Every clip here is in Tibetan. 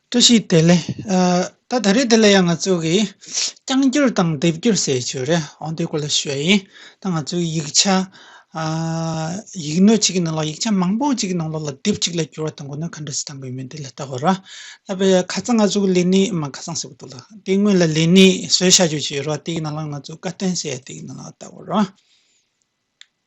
བཀྲ་ཤིས་བདེ་ལེགས། ད་ད་རེས་འདི་ལ་ཡང་ང་ཚོ་གིས་རྐྱང་འགྱུར་དང་ལྡེབ་འགྱུར་ཟེར་བའི་ཆོས་རེད་ཨོ་དེ་ཀོ་ལ་ཤོད་ཡིན་ད་ང་ཚོའི་ཡིག་ཆ། ཡིག་སྣོད་ཅིག་གི་ནང་ལ་ཡིག་ཆ་མང་པོ་ཅིག་གི་ནང་ལ་ལྡེབ་ཅིག་ལ་འགྱུར་བ་དང་གོ་ནོན་ག་འདྲ་ཞིག་བཏང་དགོས་མིན་དེ་ལ་ལྟ་དགོས་ར། ད་པེ་ཁ་ཚང་ང་ཚོ་གི་ལས་ནི་མ་ཁ་ཚང་ཟེར་བ་འདུག་ལ་དེ་སྔོན་ལ་ལས་ནི་བཟོས་བྱ་རྒྱུ་ཅིག་ཡོད་ར་དེ་ཡི་ནང་ལ་ང་ཚོ་བཀའ་བསྟན་ཟེར་ཡ་དེ་ཡི་ནང་ལ་ལྟ་དགོས་ར།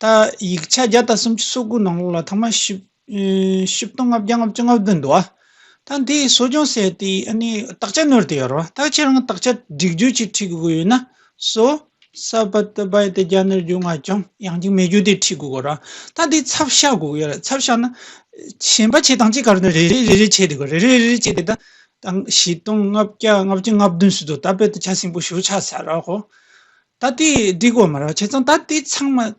ད་ཡིག་ཆ་བརྒྱ་དང་སུམ་ཅུ་སོ་དགུ་ནང་ལོགས་ལ་ཐ་མ་ཤི་བཞི་སྟོང་ལྔ་བརྒྱ་ལྔ་བཅུ་ལྔ་བདུན་འདུག་ཨ། ད་འདི་གསོ་སྦྱོང་ཟེར་དེ་ཨ་ནི་དག་ཆ་ནོར་དེ་ཡོད་རོ། ད་ཁྱེད་རང་དག་ཆ་སྒྲིག་བརྗོད་ཅིག་འཁྲིད་དགོས་ཡོད་ན། སོ། ས་བ་ཏི་བ་ཡི་ཏི་རྒྱ་ནི་རྒྱུ་ང་ཀྱང་ཡང་ཅིག་མེད་རྒྱུ་དེ་འཁྲིད་དགོས་གོ་ར། ད་འདི་ཚབ་བྱ་དགོས་ཡོད་རེད་ཚབ་བྱ་ན། ཞན་པ་བྱེད་སྟངས་ཅི་ག་རུ་ནི་རེ་རེ་རེ་རེ་བྱེད་དེ་གོ་རེ་རེ་རེ་རེ་བྱེད་དེ་ད། ད་བཞི་སྟོང་ལྔ་བརྒྱ་ལྔ་བཅུ་ལྔ་བདུན་ཟེར་དུ་ད་དཔེ་དེ་ཆ་སིང་པོ་ཞུ་ཆ་ཟ་ར་གོ། ད་ལྟའི་སྒྲིག་བཀོད་མ་རག་བྱས་ཙང་ད་ལྟའི་ཚང་མ།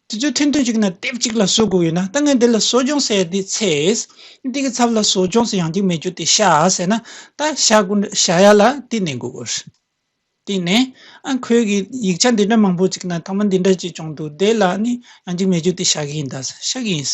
དེ་ཚོའི་ཐུན་ཐུན་གཅིག་ན་དེབ་གཅིག་ལ་བཟོ་དགོས་ཡོད་ན་ད་ངས་འདི་ལ་བཟོ་སྦྱོང་ཟེར་ཡ་དེ་ཚེ། འདི་གི་ཚབ་ལ་བཟོ་སྦྱོང་ཟེར་ཡང་འགྱིག་མེད་རྒྱུ་དེ་བཞག་ཟེར་ན་ད་བཞག་དགོས་འདྲ་བཞག་ཡ་ལ་དེ་ནས་དགོས་དགོས། དེ་ནས་ཨ་ཁོས་གི་ཡིག་ཆ་འདི་འདྲ་མང་པོ་ཅིག་ན་ཐོག་མ་འདི་འདྲ་ཅིག་བྱུང་འདུག་དེ་ལ་ནི་ཡང་འགྱིག་མེད་རྒྱུ་དེ་བཞག་གི་ཡིན་ད་བཞག་གི་ཡིན།